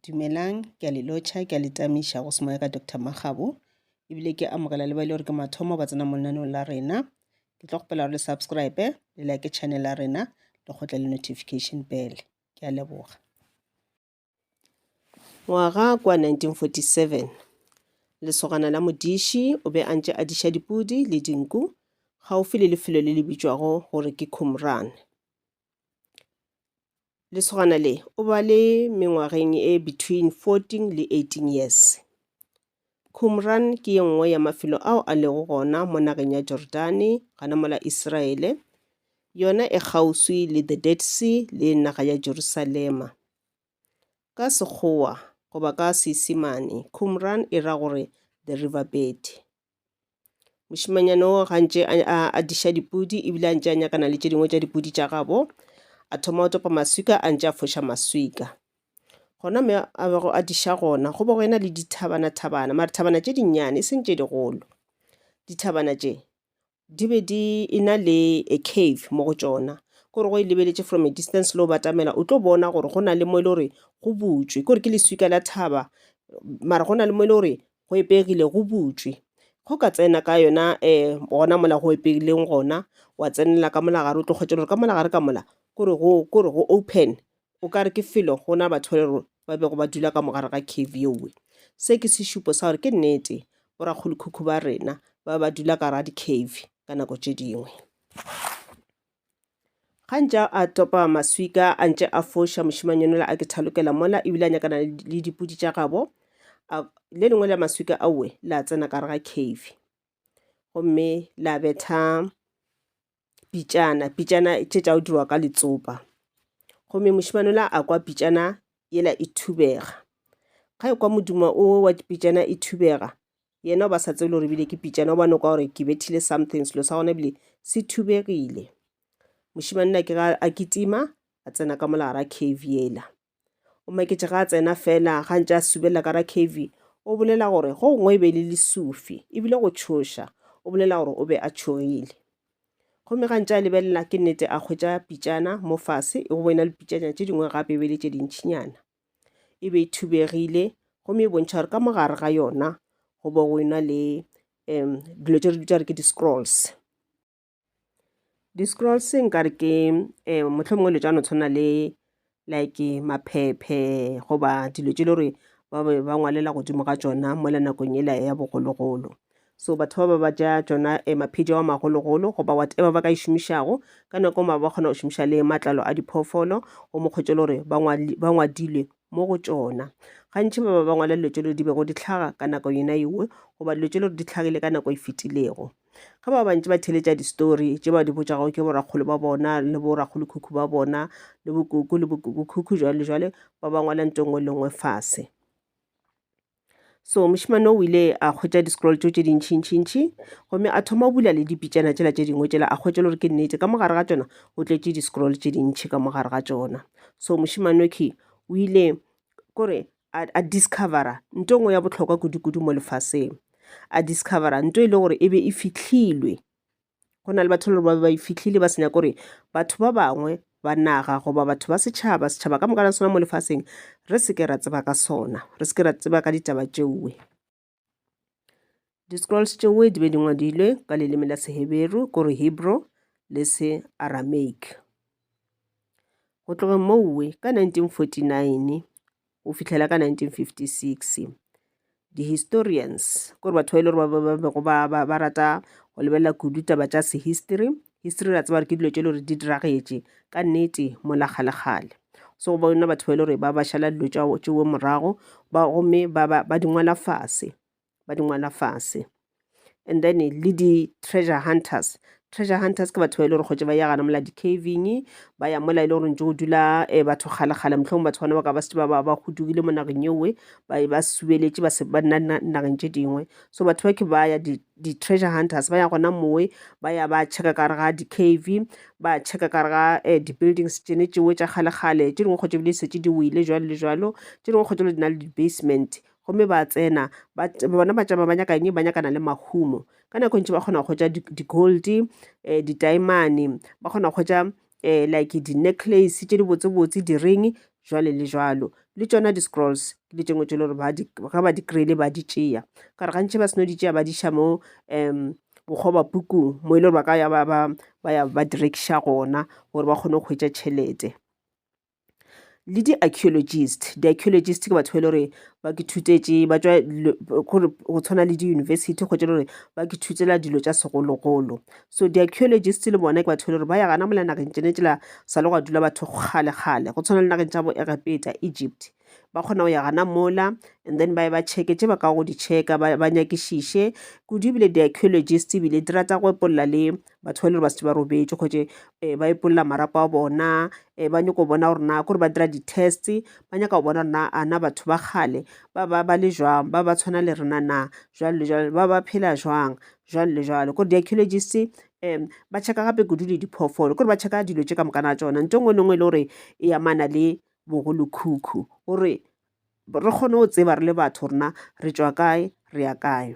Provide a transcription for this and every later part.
Dumelang, ke a le lotšha, ke a le tamiša go semoya ka Doctor Makgabo, ebile ke amogela le ba e le gore ke mathomo ba tsena mo lenaneong la rena. Ke tlo kgopela gore le subscribe, le like channel ya rena, le kgotle le notification bell. Ke a leboga. Ngwaga kwa 1947, lesogana la modiši o be a ntše a diša dipudi le dinku gaufi le lefelo le le bitšwago gore ke Qumran. Lesogana le o ba le mengwageng e between 14 le 18 years. Qumran ke ye nngwe ya mafelo ao a lego gona mo nageng ya Jordane gana mola Isiraele, yona e kgauswi le the Dead Sea le naga ya Jerusalema. Ka Sekgowa goba ka Seisemane, Qumran e ra gore the river bed. mošemanyana o gantši a adiša dipudi ebile a ntše a nyakana le tše dingwe tša dipudi tša gabo a thoma go topa maswika a ntše a foša maswika gona me a bego a diša gona go be go ena le dithabana-thabana mare thabana tše dinnyane e seng tše digolo dithabana tše di be di e na le a cave mo go tšona gore go e lebeletše from a distance le o batamela o tlo bona gore go na le mo e le gore go butšwe kore ke leswika la thaba mara go na le mo e le gore go epegile go butšwe go ka tsena ka yona um gona mola go epegileng gona wa tsenela ka molagare o tlo kgwetša gore ka molagare ka mola kore go open O ka re ke felo go na batho le rona ba bego ba dula ka mogare ga cave yeowe. Se ke sešupo sa gore ke nnete borakgolokhukhu ba rena ba ba dula ka ra di-cave ka nako tše dingwe. Gantša a topa maswika a ntše a foša mošimanyonela a ke thalokela mola ebile a nyakana le dipudi tša gabo le lengwe la maswika aowe la tsena ka re ga cave gomme la betha pitšana pitšana tše tša go dirwa ka letsopa gomme mošemane la a kwa pitšana yela e thubega ga e kwa modimo o wa pitšana e thubega yena o ba sa tsebe gore ebile ke pitšana o bane kwa gore ke bethile something selo sa gona ebile se thubegile mošemane la ke ga a kitima a tsena ka molara cave yela o maketše ga a tsena fela ga ntse a subela ka ra cv o bolela gore go gongwe e be e le lesufi ebile go tšhoša o bolela gore o be a tšhogile gomme ga ntse a lebelela ke nnete a kgwetsa pitšana mo fase e go boena le pitšanyana tše dingwe gape e be le tše dintšhinyana e be e thubegile gomme e bontšha gore ka mogare ga yona go bo go ena le um dilo tše re dutsa re ke di-scrolls Di-scrolls nkare ke mohlomongwe dilo tša no tshwana le like maphephe goba dilo tše le gore ba be ba ngwalela godimo ga tšona mola nakong ela ya bogologolo so batho ba ba ba ja tšona eh, maphedi wa magologolo goba whatever ba ka e šomišago ka nako ma ba kgona go šomiša le matlalo a diphoofolo go mokgwetše le gore ba ngwadilwe mo go tšona gantši ba ba ba ngwala dilo tše le di bego di tlhaga ka nako yona ewe goba dilo tše le gore di tlhagile ka nako e fetilego Ge ba bantši ba theletša distori tše ba di botšago ke borakgolo ba bona le borakgolokhukhu ba bona le bokoko le bokokokhukhu jwale jwale ba ba ngwala nto nngwe le nngwe fase. So mošemane o ile a hwetša di-scroll tšeo tše dintšhintšhintšhi gomme a thoma bula le dipitšana tšela tše dingwe tšela a hwetša le gore ke nnete ka mogare ga tšona o tletše di-scroll tše dintšhi ka mogare ga tšona. So mošemane o ile kore a, a discovera nto ngwe ya bohlokwa kudu-kudu mo lefaseng a discovera nto e le gore e be e fihlilwe go na le batho le gore ba e fihlile ba senya gore batho ba bangwe ba naga goba batho ba setšhaba setšhaba ka moka la sona mo lefaseng re seke ra tseba ka sona re seke ra tseba ka ditaba tšeuwe Di-scrolls tšeo di be di ngwadilwe ka leleme la Seheberu, kore Hebrew le se Aramaic. Go tloga mowe ka 1949 go fihlela ka 1956 di-historians kore batho ba ile gore ba bego ba rata go lebelela kudu taba tša sehistory History re a tseba gore ke dilo tše e le gore di diragetše ka nnete mola kgalekgale. So go bona batho ba e le gore ba ba šala dilo tša tšeo morago ba gomme ba ba ba di ngwala fase ba di ngwala fase and then le di-treasure hunters treasure hunters ke batho ba e le gore kgotse ba ya gana mola di-caving ba ya mola e le gore ntse go dula um batho kgalekgale motlhong batho bana ba ka ba setse ba ba ba godugile mo nageng ewe ba e ba subeletše ba se ba nna nna nageng tše dingwe so batho ba ke ba ya di di-treasure hunters ba ya gona mowe ba ya ba checka ka re ga di-cave ba checka ka re ga um di-buildings tsene tšewe tša kgalekgale tše dingwe kgotse bile setse di wile jalo le jalo tše dingwe kgotse bile di na le di-basement gomme ba tsena bona ba tšama ba nyakanye ba nyakana le mahumo ka nako e ntši ba kgona go hwetša di-gold um eh, ditaemane ba kgona go hwetša um like di-necklace tše di botsebotse di-ring jwale le jwalo le tšona di-scrolls le tšengwe tše le gore ga ba di-krele ba di tšea ka re gantši ba seno di tšea ba di ša mo um bokgoba pukung mo e le gore ba ka ya ba ya ba direkša gona gore ba kgone go hwetša tšhelete le di-archeologist di-archeologist ke batho ba e le gore ba ke thutetše ba tšwa gore go tshwana le di-university kgotsa e le gore ba ke thutela dilo tša segologolo so di-archeologist le bona ke batho ba e le gore ba ya gana mola nageng tšene tsela sa le go dula batho kgalekgale go tshwana le nageng tša bo egepeta egypt ba kgona go ya gana mola and then ba ye ba checke tše ba ka go di checka ba nyakišiše kudu ebile di-archeologist ebile di rata go epolla le batho ba e le gore ba setse ba robetše kgotse um ba epolola marapo a bona um ba nyako bona gore na kore ba dira di-test ba nyaka go bona gore na a na batho ba kgale ba ba ba le jwang ba ba tshwana le rena na jwalo le jwalo ba ba phela jwang jwalo le jwalo kore di-archaeologist um ba checka gape kudu le diphoofolo kore ba checka dilo tše ka mokana a tsona nto e nngwe le nngwe e le gore e amana le bogolokhukhu gore re kgone go tseba re le batho rena re tswa kae re ya kae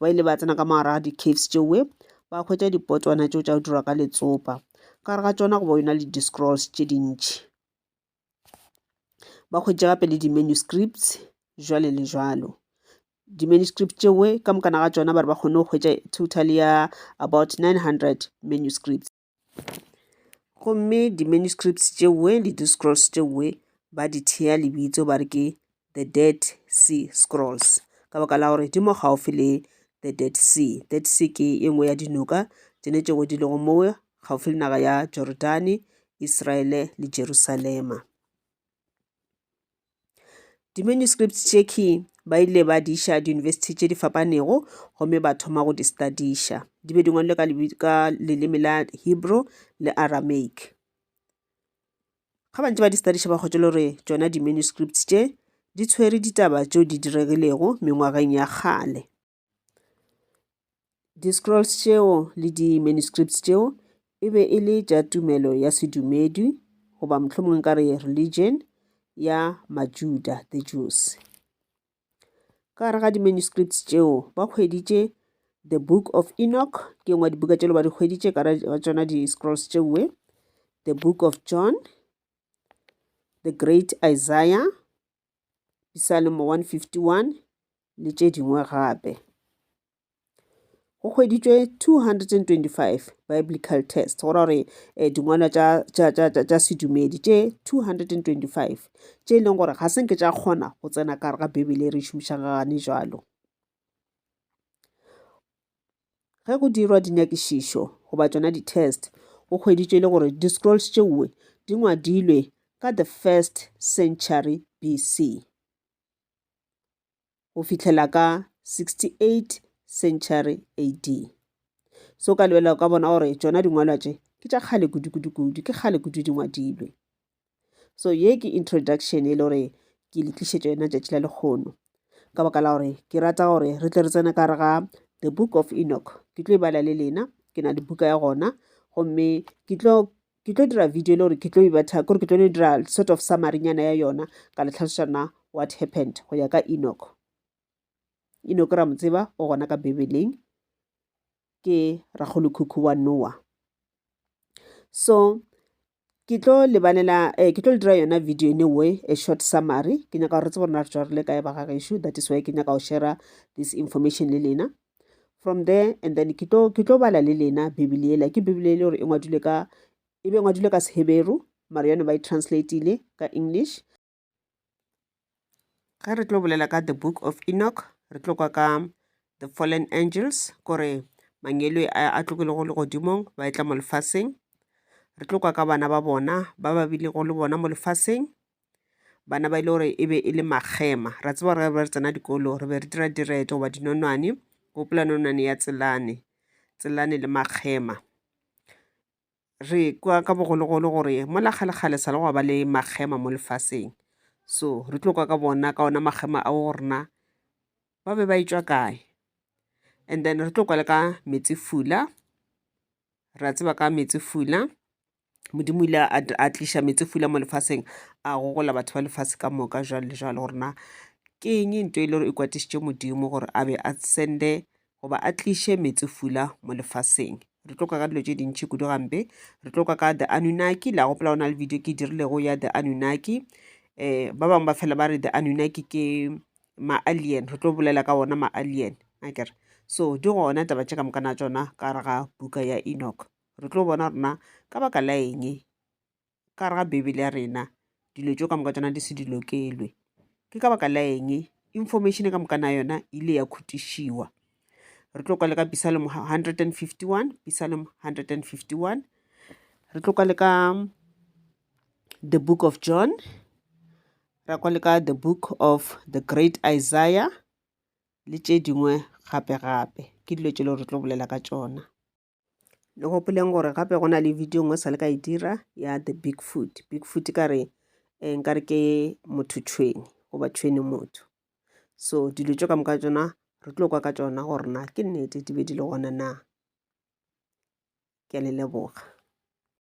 Ba ile ba tsena ka mogare ga di-caves tšeoe ba hwetša dipotwana tšeo tša go dirwa ka letsopa ka gare ga tšona go ba yona le di-scrolls tše dintši ba hwetše gape le di-manuscripts jwale le jwalo di-manuscript tšeoe ka mokana ga tšona ba re ba kgone go hwetša total ya about 900 manuscripts gomme di-manuscripts tšewe le di-scrolls tšewe ba di thea lebitso ba re ke the dead sea scrolls ka baka la gore di mo gaufi le the dead sea dead sea ke e nngwe ya dinoka tsene tšego di lego mowe gaufi le naga ya jordane israele le jerusalema Di-manuscripts tše key ba ile ba di iša diyunibesithi tše di fapanego gomme ba thoma go di studiša. Di be di ngwalwe ka leleme la Hebrew le Aramaic. Ga ba ntse ba di studiša ba kgwetšwele gore tšona di-manuscripts tše di tshwere ditaba tšeo di diregilego mengwageng ya kgale. Di Scrolls tšeo le di Manuscripts tšeo e be e le tša tumelo ya sedumedi, goba mohlomongwe ka re religion, ya Majuda, the Jews. Ka gare ga di Manuscripts tšeo ba hweditše The Book of Enoch, ke ngwa dibuka tšelo ba di hweditše ka ga tšona di Scrolls tšeue, The Book of John, The Great Isaiah, Pisalemo 151 le tše dingwe gape. Go hweditšwe 225 biblical text go ra gore um dingwalwa tša sedumedi tše 225 tše e leng gore ga se nke tša kgona go tsena kare ga bibele e re šomišang gane jalo Ge go dirwa dinyakišišo goba tšona di-test, go hweditšwe le gore di-scrolls tšeoe di ngwadilwe ka the first century BC go fihlela ka 68 century AD. So ka lebela o ka bona gore tšona dingwalwa tše ke tša kgale kudu-kudu-kudu, ke kgale kudu di ngwadilwe. so ye ke introduction e le gore ke le tlišetša yona tšatši la lekgono ka baka la gore ke rata gore re tle re tsena ka re ga the book of enoch ke tlo e bala le lena ke na le buka ya gona gomme ke tlo ke tlo dira video le gore ke tlo ibatha kore ke tlo no dira sort of samarynyana ya yona ka le tlhalošana what happened go ya ka enoch enoch ra mo tseba o gona ka bibeleng ke ragolokhukhu wa noa so ke tlo lebanela eh, ke tlo le dira yona video in a way a short summary ke nyaka gore tsebo rona re tswa re le kae ba ga gešo that is why ke nyaka go share this information le lena from there and then ke tlo ke tlo bala le lena bibele ela ke bibele ele gore e ngwadilwe ka e be ngwadilwe ka seheberu mara yone ba e translateile ka english Ge re tlo bolela ka The Book of Enoch, re tlo kwa ka The Fallen Angels, kore mangelo a tlogilego legodimong ba etla mo lefaseng. Re tlo kwa ka bana ba bona ba ba bilego le bona mo lefaseng, bana ba e le gore e be e le makgema. Ra tseba gore re tsena dikolo re be re dira direto goba dinonwane, gopola nonwane ya Tselane, Tselane le makgema. re kwa ka bogologolo gore mola kgalekgale sa le go ba le makgema mo lefaseng so re tlo kwa ka bona ka ona makgema ao go rena ba be ba etswa kae and then re tlo kwa le ka metsi fula ra tseba ka metsi fula modimo ile a tliša metsi fula mo lefaseng a gogola batho ba lefase ka moka jalo le jalo gore na ke eng nto e le gore e kwatisitše modimo gore a be a sende goba a tliše metsefula mo lefaseng re tlo ka ka dilo tše dintši kudu gampe re tlo ka ka the anunaki la gopola go na le video ke e dirilego ya the anunaki um ba bangwe ba fela ba re the anunaki ke ma-alien re tlo bolela ka ona ma-alien akere so di gona taba tše ka moka na tsona ka re ga buka ya enoch re tlo bona rona ka baka la eng ka gare ga Beibele ya rena dilo tšeo ka moka tšona di se di lokelwe. Ke ka baka la eng information ka moka na yona e ile ya khutišiwa? Re tlo kwa le ka Psalm 151, Psalm 151. Re tlo kwa le ka The Book of John, ra kwa le ka The Book of the Great Isaiah le tše dingwe gape-gape. Ke dilo tše le gore re tlo bolela ka tšona. le gopoleng gore gape go na le video nngwe sa le ka e dira ya the big food big food ka re eh, nka re ke motho tšhweni goba tšhweni motho so dilo tšo ka moka tsona re tlo kwa ka tsona gore na ke nnete di be di le gona na ke a le leboga